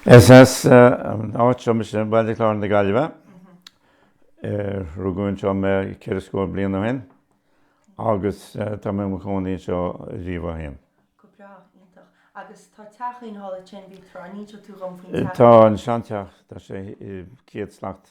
Is as an áit seo mise, Baile Chláir na Gaillimhe. Rugadh anseo mé ceithre scór bliain ó shin agus tá mé i mo chónaí anseo riamh ó shin. Go breá, iontach. Agus tá teach ceann tuí ansin, a Ruairí, an inseoidh tú dhom faoin teach? Tá an seanteach, tá sé céad slat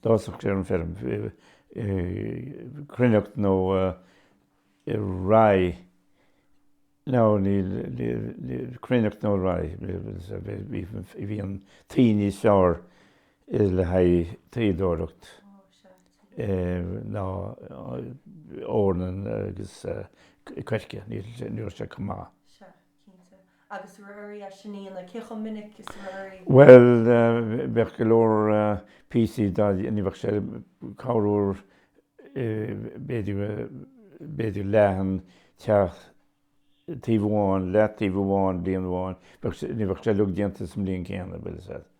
D'fhásfadh sé ar an feirm, cruithneacht nó rye. No, níl, cruithneacht nó rye. Bhí an tuí níos fearr le haghaidh tuíodóireacht ná eorna agus coirce, ní raibh sé chomh maith. Cinnte. Agus a Ruairí, an inseoidh, cé chomh minic is a ruairí? Bhuel, bheadh go leor píosaí de, ní bheadh sé, corruair b'fhéidir, b'fhéidir leath an teach, taobh amháin, leath taobh amháin bliain amháin, bheadh sé, ní bheadh sé uilig déanta sa mbliain céanna, bhuel, sea.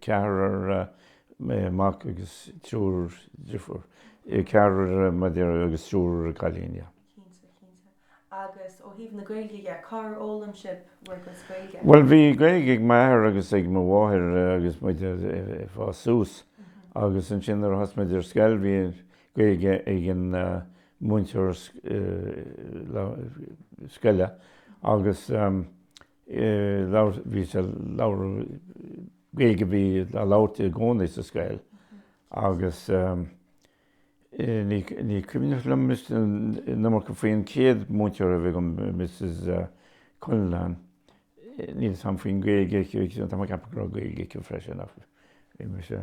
ceathrar mac agus triúr drifiúr, ceathrar mac agus triúr cailín, yeah. Cinnte, cinnte. Agus ó thaobh na Gaeilge dhe, cár fhoghlaim sibh bhur gcuid Gaeilge? Bhuel, bhí Gaeilge ag m'athair agus ag mo mháthair agus muid ag fás suas agus ansin nuair a chuaigh muid ar scoil bhí Gaeilge ag an múinteoir scoile agus labhairt, bhí sé all Gaeilge a bhí á labhairt i gcónaí sa scoil agus ní, ní cuimhneach liom an iomarca faoi an chéad múinteoir a bhí agam, Mrs Cullinane, níl 'fhios a'm faoin nGaeilge aici, tá mé ag ceapadh go raibh Gaeilge aici freisin ach bhí mise.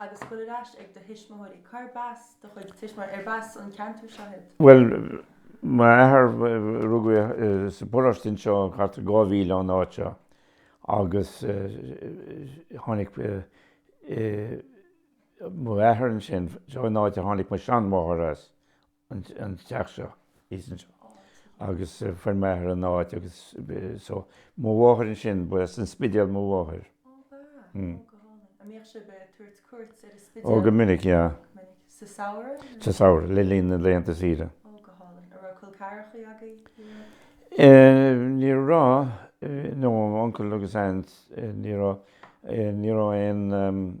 agus goil ar ais ag do thuismitheoirí. Cá ar b'as do chuid tuismitheoirí? Ar b'as an ceantar seo iad? Bhuel, m'athair, rugadh é sa bparóiste anseo thart ar dhá mhíle ón áit seo agus tháinig m'athair ansin, seo an áit a tháinig mo sheanmháthair as, an teach seo, atá muid anseo agus fuair m'athair an áit agus so, mo mháthair ansin, ba as an Spidéal mo mháthair. Ó ba ea? Ó go hálainn. An mbíodh sibh ag tabhairt cuairt ar an Spidéal? Ó go minic, yeah. Go minic. Sa samhradh? Sa samhradh, le linn na laethanta saoire. Ó go hálainn. An raibh col ceathrachaí agaibh thiar? Ní raibh, no, uncle agus aunt, ní raibh, ní raibh aon,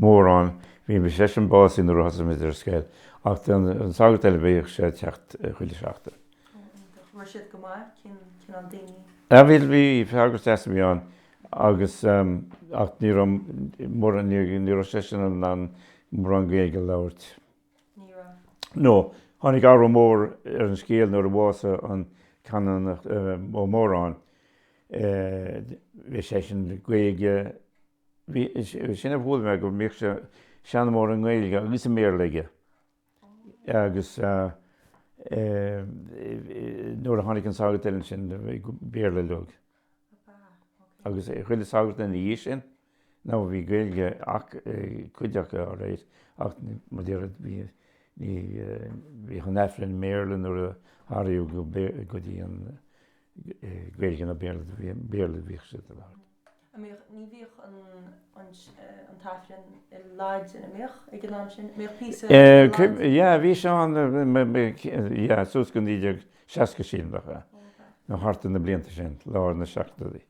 mórán, bhí seisean básaithe nuair a thosaigh muid ar an scoil, ach an sagart eile, bhíodh sé ag teacht chuile sheachtain. Ó, iontach. An raibh siad go maith? Cén cineál daoine? Ah, bhí, bhí, sagart deas a bhí ann agus, ach ní raibh mórán, ní raibh seisean in ann mórán Gaeilge a labhairt. Ní raibh. No, tháinig athrú mór ar an scéal nuair a bhásaigh an Canónach Ó Móráin, bhí seisean, Gaeilge Bhí, sin a bhuail mé, go mbíodh seanmóir i nGaeilge agus i mBéarla aige agus nuair a tháinig an sagart eile ansin, Béarla uilig agus chuile shagart ina dhiaidh sin, no, bhí Gaeilge ag cuid acu, alright, ach má bhí, bhí, ní, bhíodh an tAifreann i mBéarla nuair a athraíodh é go dtí an Gaeilge nó Béarla, Béarla a bhíodh siad ag labhairt. a mbíodh, ní bhíodh an, an, an tAifreann i Laidin, a mbíodh, ag an am sin? Mbíodh píosa de i Laidin? Yeah, bhí sé ann, yeah, suas go naoi déag seasca is a seacht nó thart ar na blianta sin, lár na seachtóidí.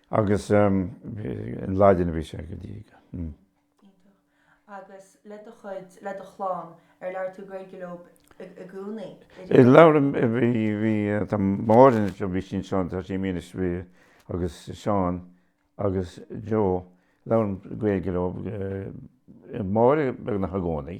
Agus, i Laidin a bhí sé go dtí go, hm. Iontach. Agus le do chuid, le do chlann, ar labhair tú Gaeilge leo i gcónaí, Labhair, bhí, tá Máirín anseo, bhí sí anseo, tá sí i Maínis is bhí, agus Seán agus Joe, labhraím Gaeilge leo, mar beagnach i gcónaí.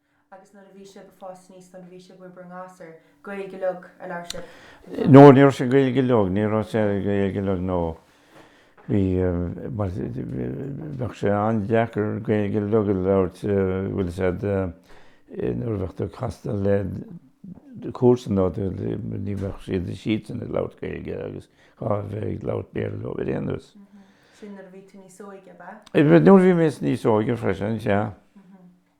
Agus nuair a bhí sibh ag fás aníos, nuair a bhí sibh in bhur ngasúir, Gaeilge uilig a labhair sibh, an ea? No, ní raibh sé Gaeilge uilig, ní raibh sé Gaeilge uilig, no. Bhí, bheadh sé an-deacair Gaeilge uilig a labhairt, bhfuil 'fhios a'd, nuair a bheadh tú ag casadh le comharsana nó ní bheadh siad siadsan ag labhairt Gaeilge agus chaithfeá a bheith ag labhairt Béarla leo ar aon nós. Sin nuair a bhí tú níos óige, ab ea? Nuair a bhí mé níos óige freisin, sea.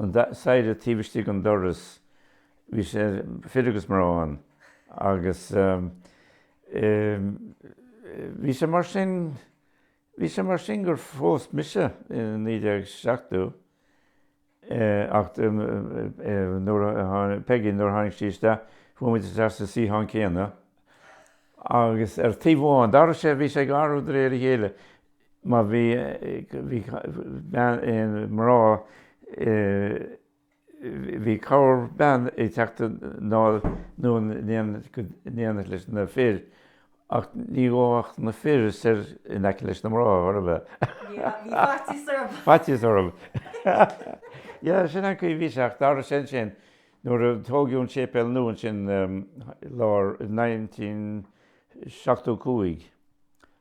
An staighre taobh istigh den doras, bhí sé fir agus mná ann agus bhí sé mar sin, bhí sé mar sin gur phós mise i 1970 ach nuair a tháinig Peigí, nuair a tháinig sí isteach, chuaigh muid isteach sa suíochán céanna agus ar taobh amháin, d'athraigh sé, bhí sé ag athrú de réir a chéile, Má bhí, bhí, bean, mná, bhí corrbhean ag teacht anonn in éineacht leis na fir ach ní ghabhfadh na fir soir in aice leis na mná, chor ar bith. Yeah, bhí faitíos orthu. Faitíos orthu. Yeah, sin an chaoi a bhí sé ach d'athraigh sé ansin, nuair a tógadh an séipéal nua ansin i lár, in nineteen seachtó cúig,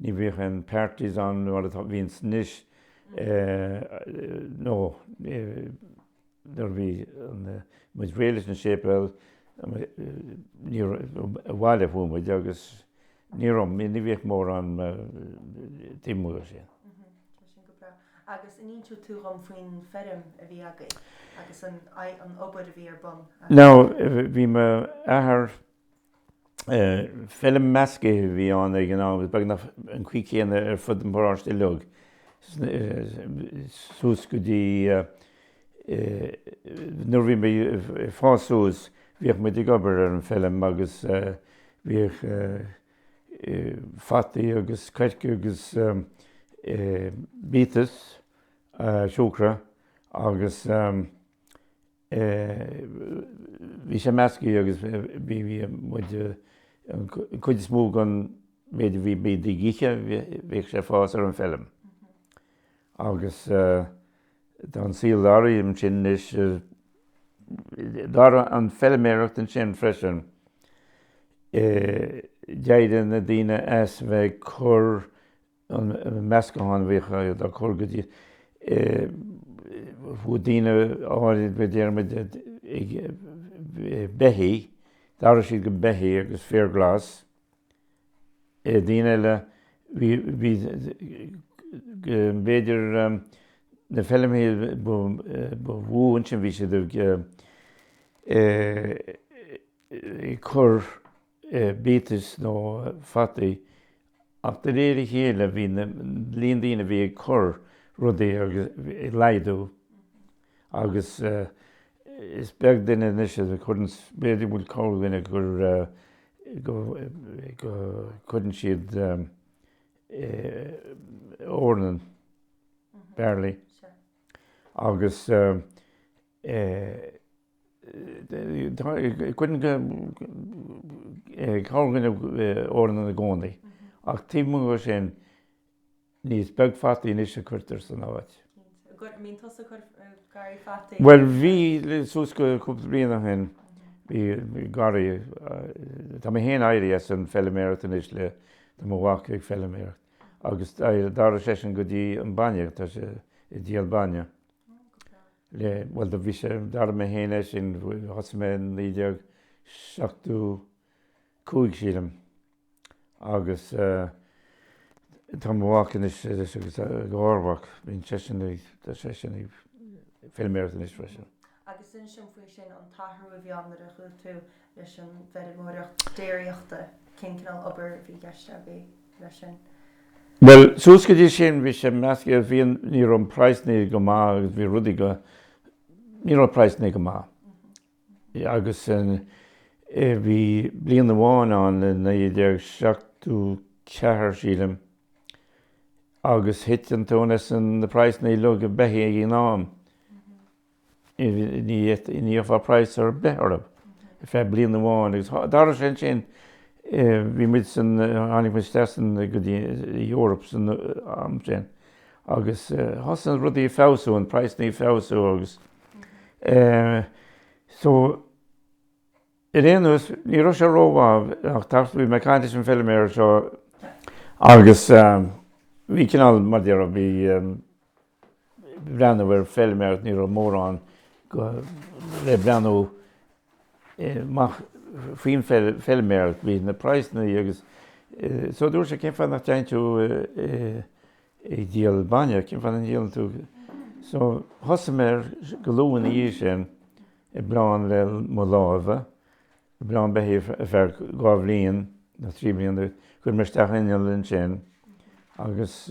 Ní bhíodh aon parties ann mar atá, bhíonns anois, no, nuair a bhí muid réidh leis an séipéal, abhaile chuaigh muid agus ní raibh, ní bhíodh mórán taobh amuigh de sin. Tá sin go breá. Agus an inseodh tú dhom faoin feirm a bhí agaibh agus an obair a bhí ar bun agaibh? Now, bhí m'athair. Feilm mheascaithe a bhí ann ag an am agus beagnach an chaoi céanna ar fud an pharóiste uilig suas go dtí nuair a bhí mé ag fás suas, bhíodh muid ag obair ar an feilm agus bhíodh fataí agus coirce agus biatas siúcra agus. Bhí sé meascaithe agus bhí muid, an chuid is mó den mhéid a bhí muid ag ithe, bhíodh sé ag fás ar an feilm. Agus tá an saol athraithe ansin anois, d'athraigh an feilméaracht ansin freisin. D'éirigh na daoine as bheith ag cur an meascán a bhíodh á chur go dtí, chuaigh daoine áirid, a déarfaidh muid, ag beithígh, d'athraigh siad go beithígh agus féar glas é, daoine eile, bhí, bhí, b'fhéidir na feilmeacha ba mhó ansin bhí siad ag cur, biatas nó fataí ach de réir a chéile bhí an líon daoine a bhí ag cur rudaí ag laghdú agus is beag duine anois a chuireann, b'fhéidir go bhfuil corrdhuine gur, go, go cuireann siad eornan, barley, agus eornan i gcónaí, ach taobh amuigh de sin, níos beag fataí anois a cuirtear san áit. Cinnte. Bíonn tusa ag cur garraí fataí ar. Bhuel, bhí suas go cúpla bliain ó shin, bhí garraí, tá mé féin éirithe as an feiliméaracht anois le, tá mo mhac ag feiliméaracht, agus d'éirigh, d'athraigh seisean go dtí an bainne, tá sé ag díol bainne. le, bhuel do bhí sé, d'athraigh mé féin é sin, thosaigh mé in naoi déag seachtó cúig sílim agus tá mo mhac anois agus a gharmhac, bíonn seisean ag, tá seisean ag feilméaracht anois freisin. Agus inis dúinn faoi sin an t-athrú a bhí ann nuair a chuaigh tú leis an bhfeirmeoireacht déiríochta, cén cineál obair a bhí i gceist a bhí leis sin? Bhuel, suas go dtí sin bhí sé measctha, bhí an, ní raibh na praghsanna go maith agus bhí rudaí go, ní raibh na praghsanna go maith. Agus an, bhí bliain amháin ann i naoi déag seachtó ceathair, sílim, agus thit an tóin as an, na praghsanna uilig ag beithí ag an am. ní bhfaighfeá praghas ar bith orthu ar feadh bliain amháin agus tar éis sin ansin bhí muid san, tháinig muid isteach san, go dtí an Eoraip san am sin agus thosaigh rudaí ag feabhsú, an praghsanna ag feabhsú agus so ar aon nós ní raibh sé ró-mhaith ach, bhí mé ag caint leis an feilméara seo agus bhí cineál, mar déarfá, bhí. breathnú ar feilméaracht, ní raibh mórán le breathnú amach faoin feilméaracht, bhí na praghsanna agus so dúirt sé cén fáth nach dtéann tú ag díol bainne, cén fáth nach ndíolann tú, so thosaigh mé ar, go luath ina dhiaidh sin, ag bleán le mo lámha, ag bleán beithí ar feadh dhá bhliain nó trí bliana, chuir mé isteach inneall ansin agus.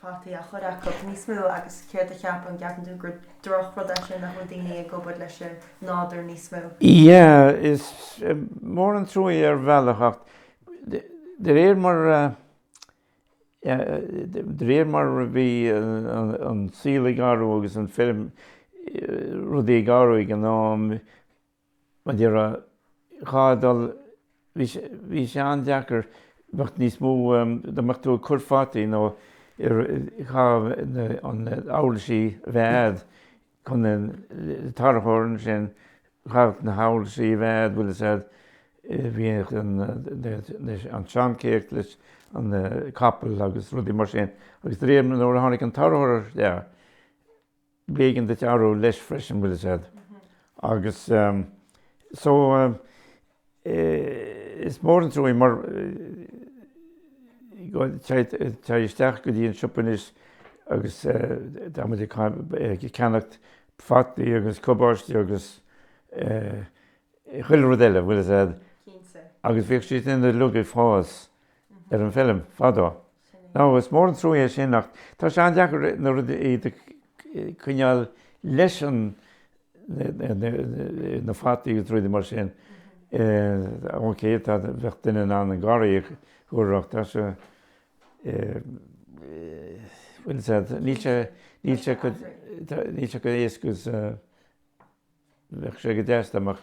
fataí á chur acu níos mó agus céard a cheap an gceapann tú gur droch rud é sin nach bhfuil daoine ag obair leis an nádúr níos mó? Yeah is mór an truaí ar bhealach ach de réir mar de réir mar a bhí an saol ag athrú agus an feirm rudaí ag athrú ag an am, Mar a déarfá, chaithfeá dul, bhí sé, bhí sé an-deacair, bheadh níos mó, dá mbeadh tú ag cur fataí nó ar, chaithfeadh na huirlisí a bheith a'd chun an, le tarracóir ansin, chaithfeadh na huirlisí a bheith a'd, bhfuil 'fhios a'd, bhíodh an, an seancéacht leis an capall agus rudaí mar sin agus de réir nuair a tháinig an tarracóir isteach, b'éigean duit athrú leis freisin, bhfuil 'fhios a'd. Agus so, is mór an truaí mar téigh isteach go dtí an siopa anois agus tá muid ag ceannacht fataí agus cabáiste agus chuile rud eile, bhfuil 'fhios a'd, agus bhíodh siad sin uilig ag fás ar an bhfeilm fadó. Now, is mór an truaí é sin ach tá sé an-deacair na rudaí a coinneáil leis an, na fataí agus rudaí mar sin. OK, tá, bheadh duine in ann an garraí a chur ach tá sé, bhfuil 'fhios a'd, níl sé, níl sé, níl sé go éasca is bheadh sé go deas dá mbeadh.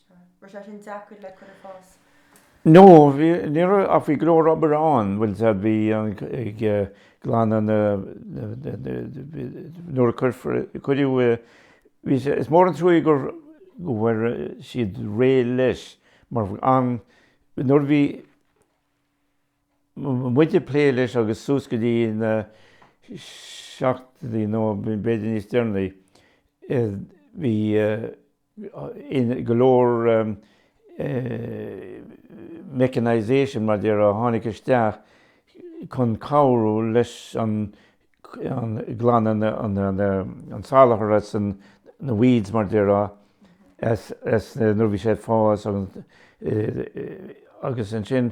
No, bhí, ní raibh, ach bhí go leor obair ann, bhfuil fhios a'd, bhí an, ag glanadh na, nuair a cuirfear, cuireadh, bhí sé, is mór an truaigh gur, go bhfuair siad réidh leis mar an, nuair a bhí muid ag plé leis agus suas go dtí na seachtóidí nó b'fhéidir níos deireanaí, bhí, in go leor mechanisation mar déarfá, a tháinig isteach chun cabhrú leis an glanadh an salachar, na weeds mar déarfá is nuair a bhí sé ag fás agus ansin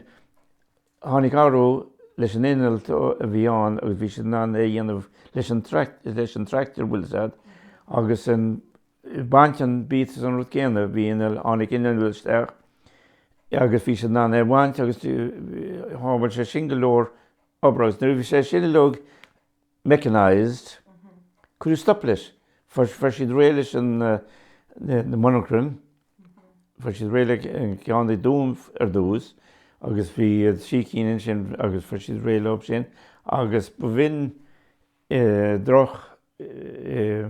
Tháinig athrú leis an inneall a bhí ann agus bhí siad in ann é a dhéanamh leis an leis an tractor bhfuil fhios a'd agus an baint an biatas an rud céanna bhí inneall tháinig inneall isteach agus bhí siad in ann é a bhaint agus shábháil sé sin go leor obair agus nuair a bhí sé sin uilig mechanised, Cuireadh stop leis, fuair siad réidh leis na monarchain, fuair siad réidh le ceann i dTuaim ar dtús agus bhí trí cinn ansin agus fuair siad réidh leo sin agus ba bh'in droch eh,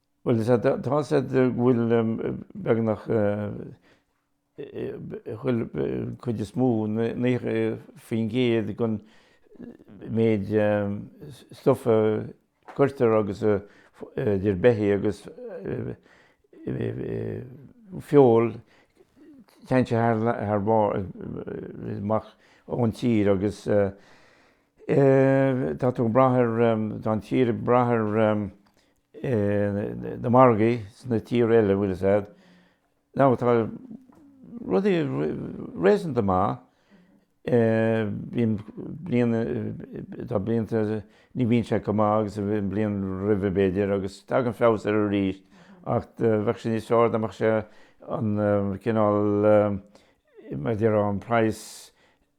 Bhuel, sea, tá fhios a'd go bhfuil beagnach chuile, cuid is mó, 90% den méid stuff a chuirtear agus a, idir beithí agus feoil, téann sé thar barr, amach ón tír agus tá tú ag brath ar, tá an tír ag brath ar na margaí sna tíortha eile bhfuil fhios a'd now tá rudaí réasúnta maith bíonn bliain tá blianta ní bhíonn sé chomh maith agus a bhí an bhliain roimhe b'fhéidir agus tagann feabhas air arís ach bheadh sé níos fearr dá mbeadh sé an cineál mar a déarfá an praghas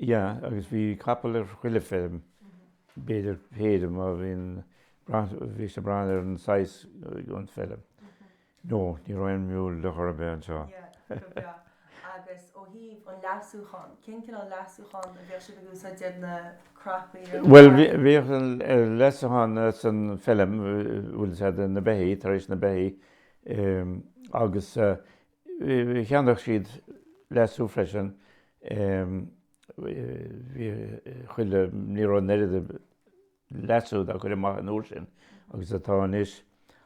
Yeah, agus bhí capall ar chuile feilm, b'fhéidir péire mar bhí an, bhí sé ag brath ar an size den feilm. No, ní raibh aon mule ar chor ar bith anseo. Yeah, go breá. Agus ó thaobh an leasúchán, cén cineál leasúchán a bhíodh sibh ag úsáid, do na crapaí ar na Well, bhí, barraí? bhíodh an leasúchán san feilm, bhfuil fhios a'd, de na beithí, tar éis na beithí, agus. cheannódh siad leasú freisin, bhí chuile, ní raibh an oiread leasú dá chur amach an uair sin agus atá anois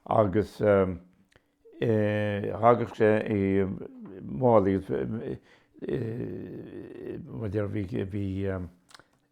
agus thagadh sé i málaí, bhí,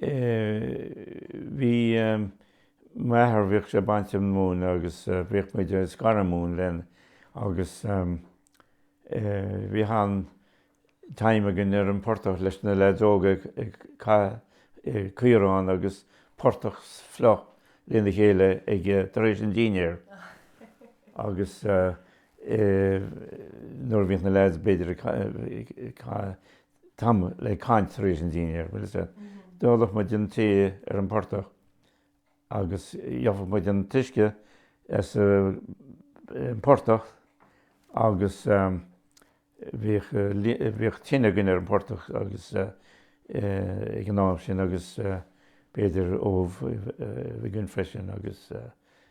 bhí m'athair, bhíodh sé ag baint móin agus bhíodh muid ag scaradh móin linn agus bhíodh an-time againn ar an bportach leis na lads óga ag caitheamh caorán agus portach fliuch lena chéile ag, tar éis an dinnéir agus nuair a bhíodh na lads b'fhéidir ag caitheamh, tamall ag caint tar éis an dinnéir, bhuel, is ea, d'ólfadh muid an tae ar an bportach agus gheofadh muid an t-uisce as an bportach agus bhíodh, bhíodh tine againn ar an bportach agus ag an am sin agus b'fhéidir ubh a bhí againn freisin agus.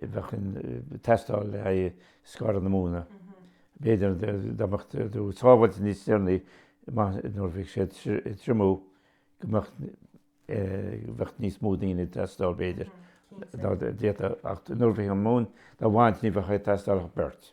bheadh duine ag teastáil le haghaidh scaradh na móna. B'fhéidir dá mbeadh tú ag sábháilt níos deireanaí, amach nuair a bheadh sé ag triomú, go mbeadh, bheadh níos mó daoine ag teastáil, b'fhéidir, dá dtéadh, ach nuair a bhíodh an mhóin dá bhaint ní bheadh ag teastáil ach beirt.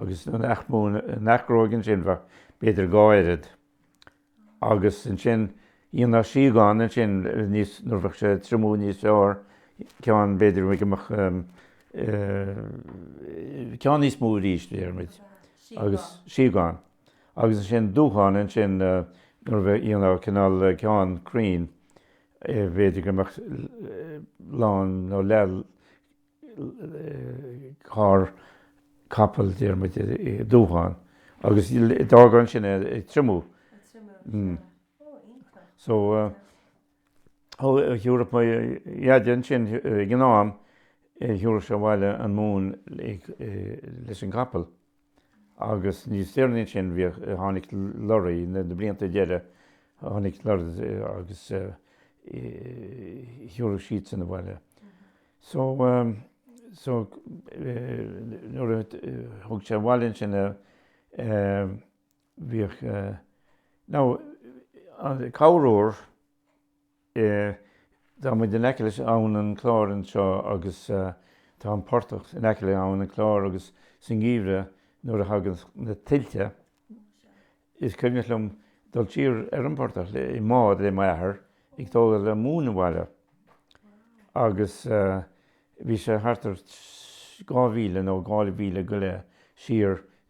agus an athghróg ansin, bheadh, b'fhéidir, dhá oiread agus ansin, dhéanfadh síogáin ansin níos, nuair bheadh sé ag triomú níos fearr, ceann, b'fhéidir go mbeadh ceann níos mó arís, déarfaimid, agus síogáin, agus ansin dúcháin ansin nuair bheadh, dhéanfadh cineál ceann cruinn, b'fhéidir go mbeadh lán nó leath, carr capall, déarfaimid, i ndúchán agus d'fhág ansin é ag triomú. Ag triomú an trá. Ó, iontach. So, thiúrfadh mo dhaid ansin, ag an am, thiúrfadh sé abhaile an mhóin leis an gcapall. Agus níos deireanaí ansin, bhíodh, tháinig lorraí, na blianta deireadh, tháinig lorraí agus thiúrfadh siadsan abhaile. So, so, nuair a thug sé abhaile ansin é, bhíodh, now, cabhrú. Tá muid in aice le Abhainn an Chláir anseo agus tá an portach in aice le Abhainn an Chláir agus sa ngeimhreadh nuair a thagann na tuilte is cuimhneach liom dul siar ar an bportach i mbád le m'athair ag tógáil móin abhaile agus bhí sé thart ar dhá mhíle nó dhá mhíle go leith siar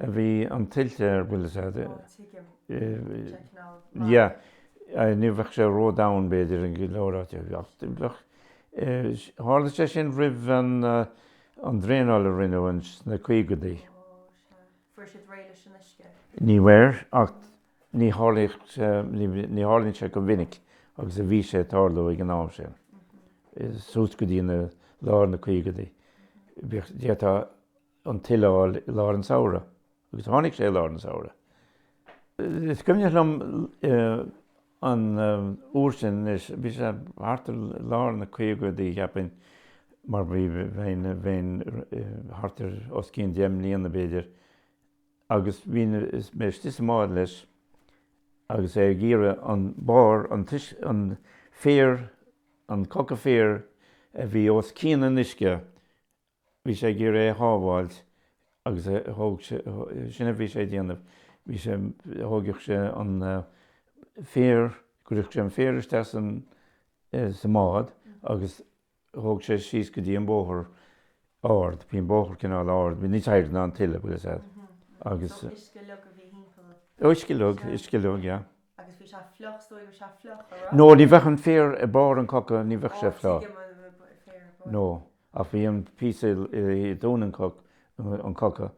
a bhí an tuile ar, bhfuil 'fhios a'd. Ó, tuigim. Tuigim tanaí mar a. Yeah. Ní bheadh sé ró-dhomhain, b'fhéidir, in go leor áiteacha ach bheadh. Tharla sé sin roimh an draenáil a rinneadh sna caogadaí. Ó, sea. Fuair siad réidh leis an uisce? Ní bhfuair, ach ní tharlaíodh sé, ní tharlaíonn sé chomh minic agus a bhí sé ag tarlú ag an am sin, suas go dtí lár na caogadaí. Bhíodh, d'fhéadfá. an tuile a fháil i lár an tsamhraidh agus tháinig sé i lár an tsamhraidh. Is cuimhneach liom an uair sin, anois bhí sé thart i lár na caogadaí cheapfainn mar bheinn thart ar os cionn deich mbliana b'fhéidir agus bhí mé istigh sa mbád leis agus é ag iarraidh an barr, an féar, an coca féir a bhí os cionn an uisce Bhí sé ag iarraidh é a shábháilt agus thóg sé, sin a bhí sé a dhéanamh, bhí sé, thóigeadh sé an féar, chuirfeadh sé an féar isteach san, sa mbád agus thóg sé síos go dtí an bóthar ard, bhí an bóthar cineál ard, bhí níos airde ná an tuile, bhfuil 'fhios a'd agus. So uisce uilig a bhí thimpeall air Uisce uilig, uisce uilig, yeah. Agus bhí sé fliuch so bhí sé fliuch a' ra? No, ní bheadh an féar ar barr an coca, ní bheadh sé fliuch. No. Ach bhí an píosa i dtóin an choca,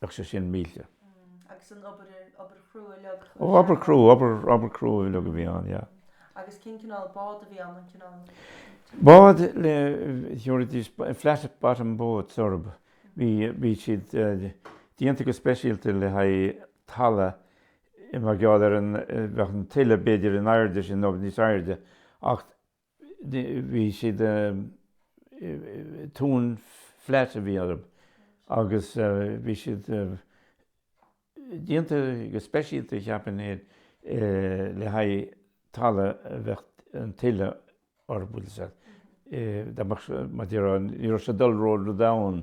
bheadh sé sin millte. Mm, agus an obair, obair chrua uilig. Ó, obair chrua, obair, obair chrua uilig a bhí ann, yeah. Mm, agus cén cineál bád a bhí ann, an cineál? Bád le, tiúrfaidís, flat bottom boats orab, bhí, bhí siad déanta go speisialta le haghaidh talamh, mar gheall ar an, bheadh an tuile b'fhéidir an airde sin nó níos airde, ach bhí siad, tóin flat a bhí orab agus bhí siad déanta go speisialta cheapainn é le haghaidh talamh a bheadh an tuile orab dá mbeadh, maidir a rá, ní raibh sé dul ró domhain.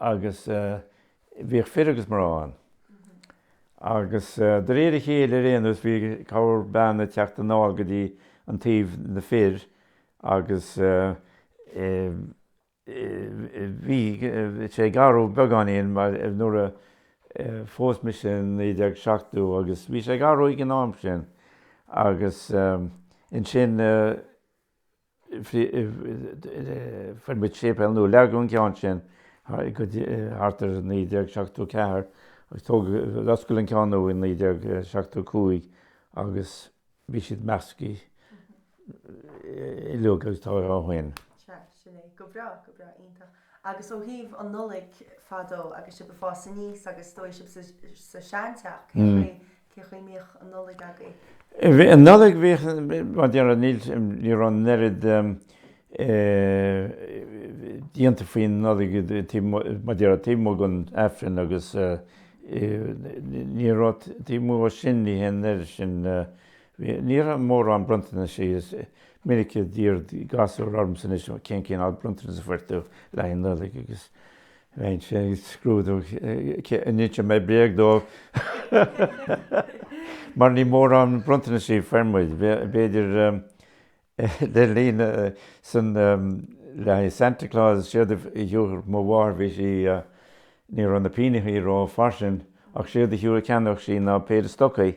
agus bhíodh fir agus mná ann agus de réir a chéile ar aon nós bhí corrbhean ag teacht anáil go dtí an taobh na fir agus bhí sé ag athrú beagáinín mar nuair a phós mise i 1970 agus bhí sé ag athrú ag an am sin agus ansin. Fuair muid séipéal nua, leagadh an ceann sin thart ar 1974 agus tógadh, osclaíodh an ceann nua i 1975 agus bhí siad measctha ilig agus tá ó shoin. Cheap, sin é. Go breá, go breá, iontach. Agus ó thaobh an Nollaig fadó agus sibh ag fás aníos agus is dóigh sibh sa seanteach, cén chaoi, Cén chaoi a mbíodh an Nollaig agaibh? Bhí an Nollaig, bhíodh, maidir, níl, ní raibh an oiread déanta faoin Nollaig taobh amuigh, maidir, taobh amuigh den Aifreann agus ní raibh, taobh amuigh dhó sin ní hé an oiread sin, bhí, ní raibh mórán bronntanaisí, is minic a d'iarr gasúir ormsa anois cén cineál bronntanas a fuair tú le haghaidh an Nollaig agus. Bheinn féin ag scrúdú an inseodh mé bréag dóibh, mar ní mórán bronntanaisí a fuair muid, b'fhéidir le linn sin le haghaidh Santa Claus, séard a thiúrfadh mo mháthair bhí sí, ní raibh na pínneachaí rófhairsing, ach séard a cheannódh sí ná péire stocaí,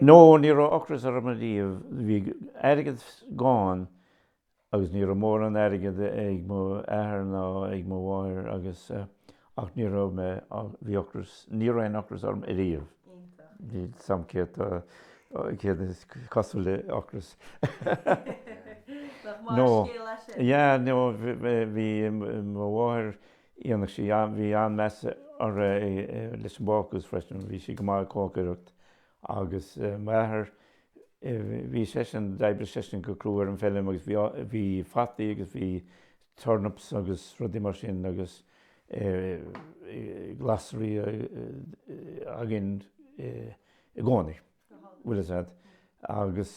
No, ní raibh ocras orm ariamh, bhí airgead gann agus ní raibh mórán airgead ag mo athair ná ag mo mháthair agus ach ní raibh mé, bhí ocras, ní raibh aon ocras orm ariamh. Iontach. San am céanna, céard is cosúil le ocras. Nach maith an scéal é sin? Yeah, no, bhí mo mháthair, iontach í sé. Bhí an-mheas uirthi leis an bhácús freisin, bhí sí go maith ag cócaireacht. Agus m'athair, bhí seisean, d'oibrigh seisean go crua ar an feilim agus bhí fataí agus bhí turnips agus rudaí mar sin agus glasraí againn i gcónaí, bhfuil a fhios a'd. Agus.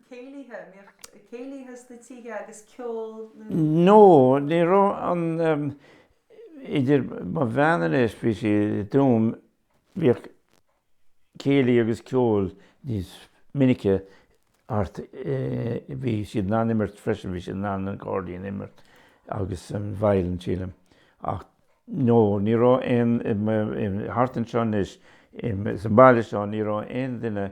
céilithe, an mbíodh céilithe sna tithe agus ceol nó. No, ní raibh an, idir mo bhean anois, bhí sí i dTuaim, bhíodh céilí agus ceol níos minice thart, bhí siad in ann imirt freisin, bhí siad in ann an cairdín a imirt agus an veidhlin sílim ach no, ní raibh aon, thart anseo anois, sa mbaile seo ní raibh aon duine,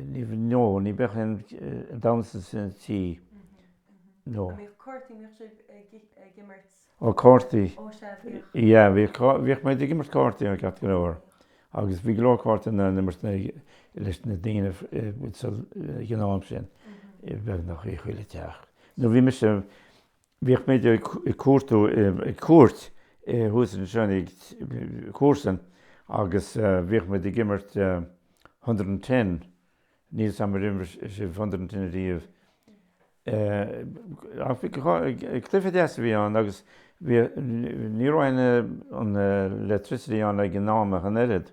ní bhíodh, no, ní bhíodh aon damhnsa sna tithe, no. An mbíodh cártaí, an mbíodh sibh ag imirt? Ó cártaí. Ó sea, bhíodh. Yeah, bhíodh, bhíodh muid ag imirt cártaí ceart go leor agus bhí go leor cártaí á n-imirt leis na daoine ag an am sin, beagnach i chuile teach. No bhí mise, Bhíodh muid ag cuartaíocht, ag cuairt, thuas anseo ag comharsan agus bhíodh muid ag imirt hundred and ten, níl 's agam ar imir sibh hundred and ten ariamh eh, cluiche deas a bhí ann agus bhí, ní raibh an, an electricity ann ag an am ach an oiread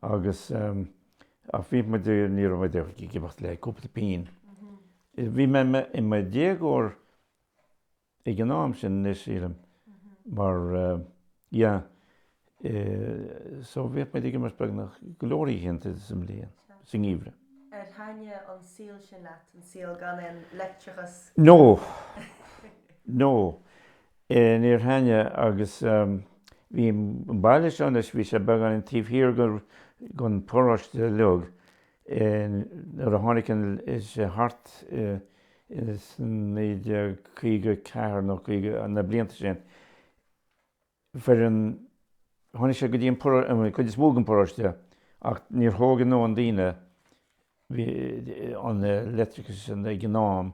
agus, ach bhíodh muid, ní raibh muid ag imirt ach le cúpla pínn. Bhí mé i mo dhéagóir ag an am sin anois, sílim, mar yeah, so bhíodh muid ag imirt beagnach go leor oícheanta sa mbliain, sa ngeimhreadh. Ar thaitin an saol sin leat, an saol gan aon leictreachas? No! No! Níor thaitin agus bhí an baile seo anois, bhí sé beagáinín taobh thiar den pharóiste uilig, nuair a tháinig an, is é thart ar 1954 nó 5, na blianta sin, faraor, tháinig siad go dtí an, an chuid is mó den bparóiste ach níor thóg an-mhórán daoine, an leictreachas ag an am,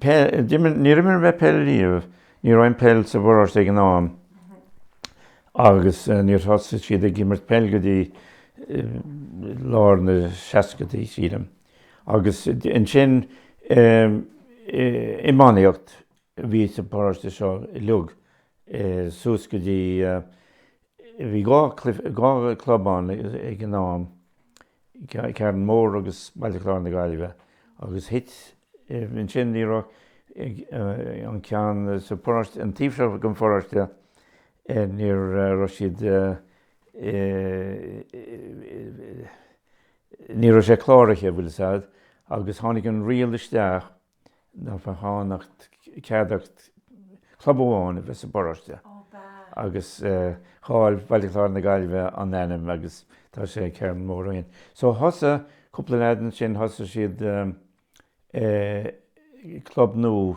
Peil, d'imir, níor imir mé peil riamh, ní raibh an pheil sa bparóiste ag an am agus níor thosaigh siad ag imirt peile go dtí lár na seascadaí sílim agus ansin iománaíocht a bhí sa bparóiste seo uilig suas go dtí Bhí dhá chlub ann ag an am, Carn Mór agus Baile Chláir na Gaillimhe, agus thit ansin, ní raibh an ceann sa pharóiste, an taobh seo den pharóiste, ní raibh siad, ní raibh sé cláraithe, bhfuil fhios a'd, agus tháinig an riail isteach, nach bhféadfadh cead ach club amháin a bheith sa bparóiste agus chaill Baile Chláir na Gaillimhe an ainm agus tá sé ag Carn Mór ó shin. So thosaigh cúpla leaid ansin thosaigh siad club nua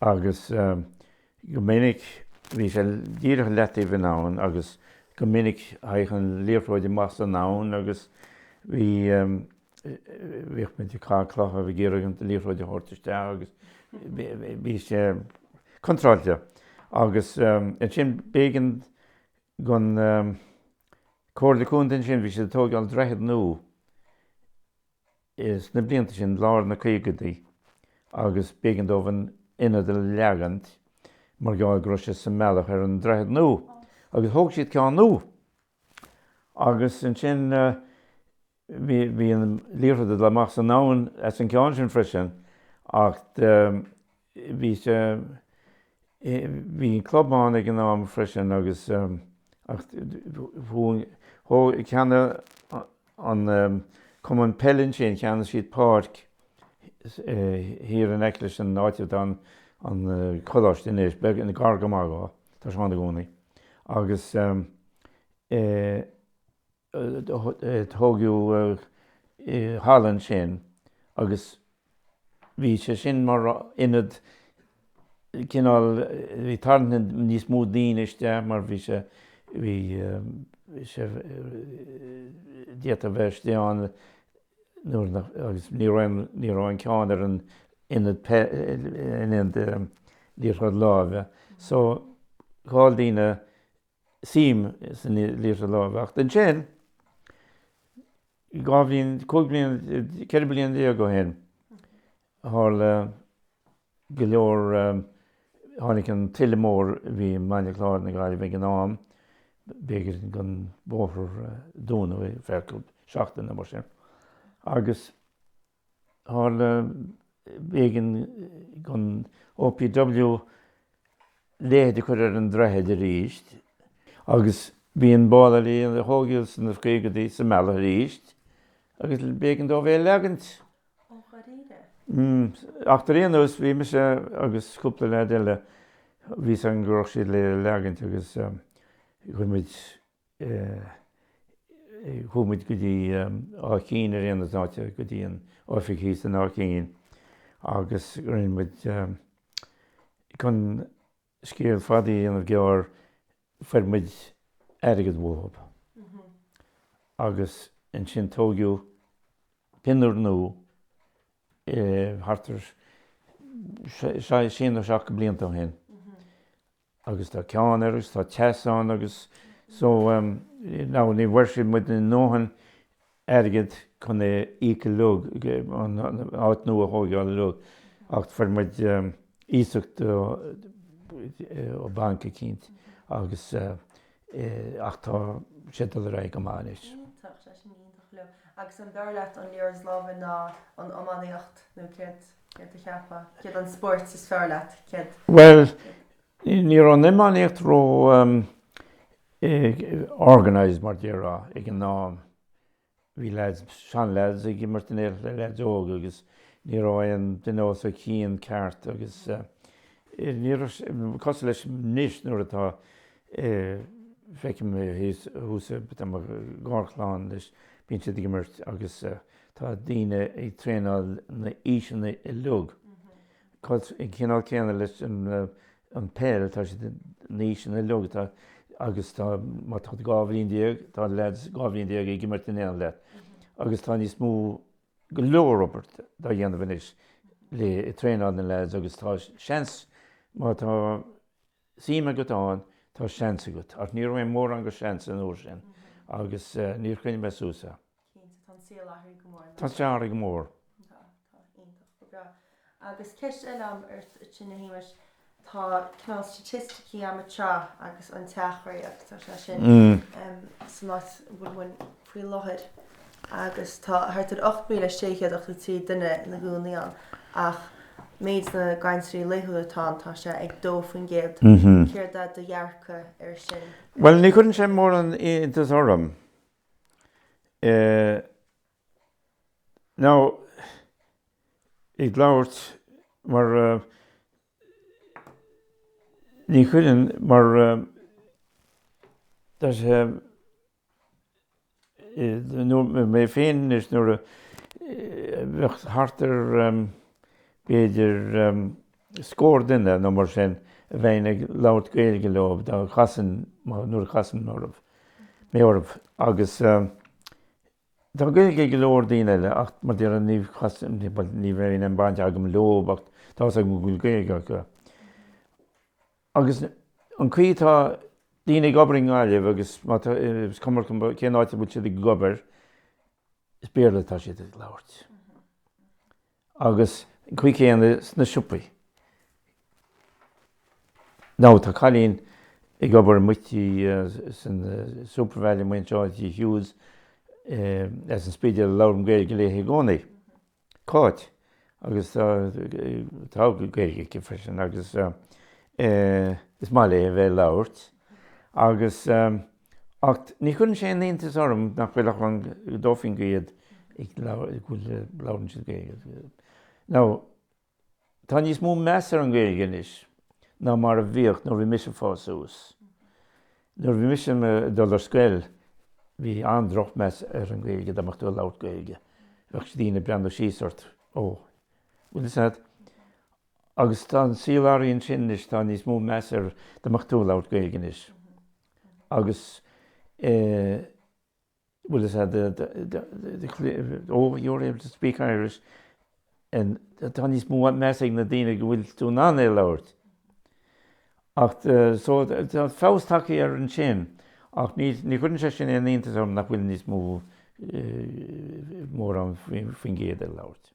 agus go minic bhí sé díreach le taobh na habhann agus go minic théadh an liathróid amach san abhainn agus bhí, bhíodh muid ag caitheamh clocha agus ag iarraidh an liathróid a thabhairt isteach agus bhí sé contúirteach agus ansin b'éigean gon Comhairle Contae ansin, bhí siad ag tógáil droichead nua. sna blianta sin, lár na caogaidí, agus b'éigean dóibh an t-ionad a leagan mar gheall go raibh sé sa mbealach ar an droichead nua, agus thóg siad ceann nua. Agus ansin, bhí, bhí an liathróid ag dul amach san abhainn as an gceann sin freisin, ach. bhí sé, bhí an club ann ag an am freisin agus, ach thóg, cheannaigh an cumann peile ansin, cheannaigh siad páirc thiar in aice leis an áit atá an coláiste anois, beag, gar go maith dhó, tá sé ann i gcónaí agus eh. Tógadh halla ansin agus bhí sé sin mar ionad cineál, bhí ag tarraingt níos mó daoine isteach mar bhí sé, bhí sé, d'fhéadfá a bheith istigh ann nuair nach, agus ní raibh, ní raibh aon cheann ar an ionad, ionad liathróid láimhe so, chaill daoine suim san liathróid láimhe. Ach ansin, dhá bhliain, cúig bliana, ceithre bliana déag ó shin, tharla go leor, tháinig an tuile mór a bhí i mBaile Chláir na Gaillimhe ag an am, b'éigean don bhóthar dúnadh ar feadh cúpla seachtain nó mar sin, agus. Tharla b'éigean don OPW leithead a chur ar an droichead arís agus bhí an ball alley a tógadh sna caogadaí sa mbealach arís agus b'éigean dóibh é a leagaint. Ó, dháiríre? Mm. Ach ar aon nós, bhí mise agus cúpla leaid eile, bhí a fhios againn go raibh siad le leagaint agus chuir muid. Chuaigh muid go dtí Áth Cinn ar aon nós, an áit go dtí an oifig thíos in Áth Cinn agus rinne muid chun scéal fada a dhéanamh gearr fuair muid airgead uathub agus ansin tóigeadh pinniúr nua thart ar sé nó seacht de bhlianta ó shin. agus tá ceann air agus tá teas ann agus so ehm now ní bhfuair siad muid a ndóthain airgead chun é íoc uilig, an áit nua a thóigeáil uilig ach fuair muid iasacht ó bhanc eicínt agus eh ach tá sé ag dul ar aghaidh go maith anois. Iontach, tá sin iontach go leor. Agus an bhfearr leat an liathróid láimhe ná an iománaíocht nó céard? Céard a cheapfá? Céard an spóirt is fearr leat? Céard. Bhuel, ní raibh an iománaíocht ró organised mar a déarfá ag an am. Bhí leaids, seanleaids ag imirt in éineacht le leaids óga agus ní raibh aon duine os a chionn ceart agus ní raibh sé, cosúil leis anois nuair atá, feicim thuas, tá mo gharchlann anois, bíonn siad ag imirt agus. Tá daoine ag traenáil na aoiseanna uilig, an cineál céanna leis an bpeil, tá siad na aoiseanna uilig agus tá má tá tú dhá bhliain déag, tá leaids dhá bhliain déag ag imirt in éineacht leat agus tá níos mó, go leor obair dá dhéanamh anois le traenáil na leaids agus tá seans má tá suim agat ann, tá seans agat ach ní raibh mórán de sheans an uair sin agus níor choinnigh mé suas é. Cinnte, tá an saol athraithe go mór, ar ndóigh. Tá sé athraithe go mór. Tá, tá. Iontach. Go breá. Agus ceist eile a'm ort, a Shéamais, tá cineál staitisticí a'm ag teacht agus an tseachtain agus é sin ehm san áit a bhfuil muid faoi láthair agus tá thart ar 8,683 duine ina gcónaí ann ach méid na gcainteoirí laethúla atá ann tá sé ag 2%. Céard é do dhearcadh ar sin? Bhuel ní chuireann sé mórán iontas orm. Nó, ag labhairt mar, ní chuireann, mar, now mé féin anois níl ann ach thart ar, b'fhéidir, scór duine nó mar sin a bheinn ag labhairt Gaeilge leo dá gcasfainn, nuair a chasann mé orthu, agus tá Gaeilge ag go leor daoine eile ach mar a déarfá ní chasaim, bhuel ní bheinn aon baint agam leo ach tá's agam go bhfuil Gaeilge acu. Agus an chaoi atá daoine ag obair i nGaillimh agus má tá, is cuma cén áit a bhfuil siad ag obair, is Béarla atá siad ag labhairt. agus an chaoi chéanna sna siopaí. Now, tá cailín ag obair amuigh san Supervalu amuigh anseo, tigh Hughes, as an Spidéal, a labhraím Gaeilge léi i gcónaí. Cáit, agus tá, tá Gaeilge aici freisin, agus is maith léi a bheith ag labhairt, agus. Ach ní chuireann sé aon iontas orm nach bhfuil ach an, dó faoin gcéad ag, go bhfuil, labhrann siad Gaeilge. Now, tá níos mó meas ar an Gaeilge anois ná mar a bhíodh nuair a bhí mise ag fás suas. Nuair a bhí mise ag dul ar scoil, bhí an-drochmeas ar an Gaeilge, dá mbeadh tú ag labhairt Gaeilge, bheadh daoine ag breathnú síos ort, ó, bhfuil 'fhios a'd. Agus tá an saol athraithe ó shin anois, tá níos mó meas ar, dá mbeadh tú ag labhairt Gaeilge anois. agus bhuel is ea oh you're able to speak Irish tá níos mó measa ag na daoine go bhfuil tú in ann é a labhairt ach so tá feabhas tagtha air ansin ach ní chuireann sé sin aon iontas orm nach bhfuil níos mó mór ann faoin gcéad ag labhairt.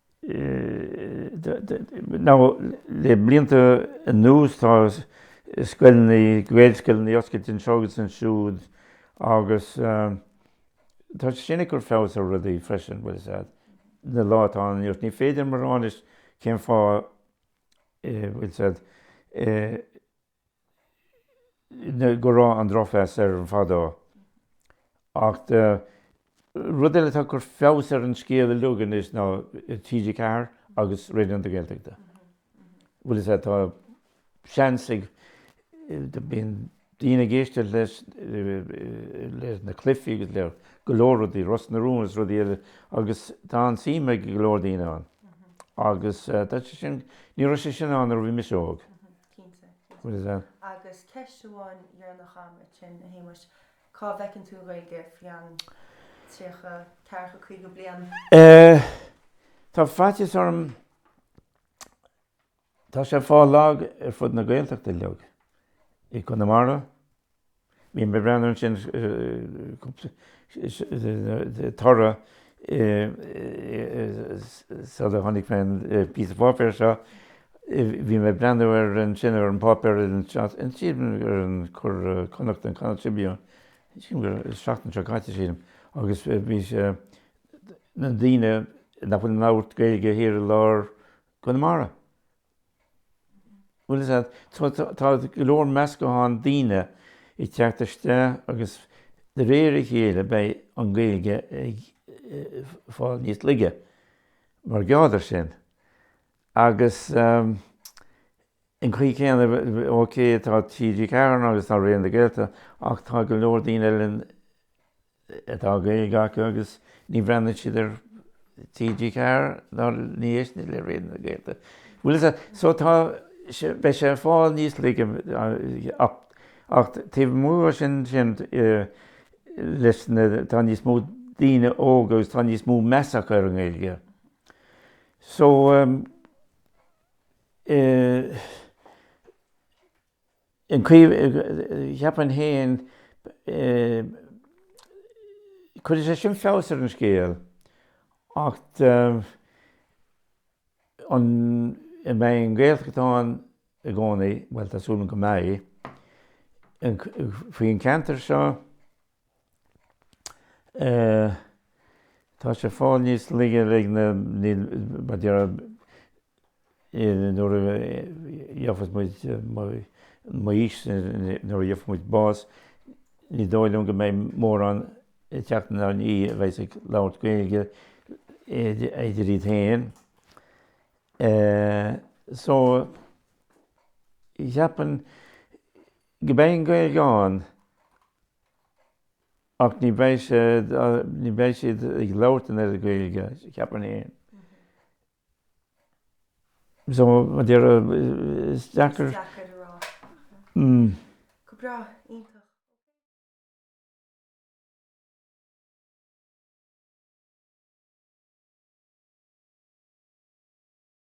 Now, le blianta anuas tá scoileanna, Gaelscoileanna oscailte anseo agus ansiúd agus tá sé sin ag cur feabhas ar rudaí freisin, bhuel, is ea, sa lá atá ann anois, ní féidir liom a rá anois cén fáth, bhuel, is ea, go raibh an drochmheas air fadó. Ach rud eile atá ag cur feabhas ar an scéal uilig anois ná TG4 agus Raidió na Gaeltachta. Bhuel is ea, tá seans ag, bíonn daoine ag éisteacht leis, le na cluichí agus le go leor rudaí, Ros na Rún is rudaí eile agus tá an-tsuim ag go leor daoine ann. Agus tá sé sin, ní raibh sé sin ann nuair a bhí mise óg. Cinnte, cinnte. Agus ceist amháin dheireanach agam uait sin, a Shéamais, cá bhfeiceann tú an Ghaeilge faoi cheann tríocha, ceathracha, caoga bliain? Tá faitíos orm, tá sé ag fáil lag ar fud na Gaeltachta uilig, i gConamara, Bhí mé ag breathnú ansin toradh sular chonaic mé an píosa páipéir seo. Bhí mé ag breathnú ar ansin ar an bpáipéar an sílim ar an Connacht an Connacht Tribune sílim gur seachtain seo caite sílim agus bhí sé na daoine nach bhfuil ag labhairt Gaeilge thiar i lár Conamara. Bhuel, is ea, tá go leor meascachán daoine ag teacht isteach agus de réir a chéile beidh an Ghaeilge ag fáil níos laige mar gheall ar sin. Agus an chaoi chéanna, OK, tá TG4 ann agus tá Raidió na Gaeltachta ach tá go leor daoine eile in atá Gaeilge acu agus ní bhreathnaíonn siad ar TG4 ná ní éisteann le Raidió na Gaeltachta bhfuil fhios a't so tá sé beidh sé ag fáil níos laige ach ach taobh amuigh dho sin sin leis na tá níos mó daoine óga agus tá níos mó meas acu ar an nGaeilge so eh. Cheapfainn fhéin, go gcuirfidh sé sin feabhas ar an scéal, ach an mbeidh an Ghaeltacht ann i gcónaí, bhuel tá súil agam go mbeidh, faoin ceantar seo? tá sé fáil níos laige, like, mar déarfá, nuair a gheofas muid, m'aois, nuair a gheofas muid bás, ní dóigh liom go mbeidh mórán ag teacht in ann a bheith ag labhairt Gaeilge idir iad féin. So, cheapfainn, Beidh an Ghaeilge ann ach ní bheidh sé, ní bheidh siad ag labhairt an oiread Gaeilge, cheapfainn fhéin. So, mar a déarfá, is deacair. Is deacair a rá. Mm. Go breá, iontach.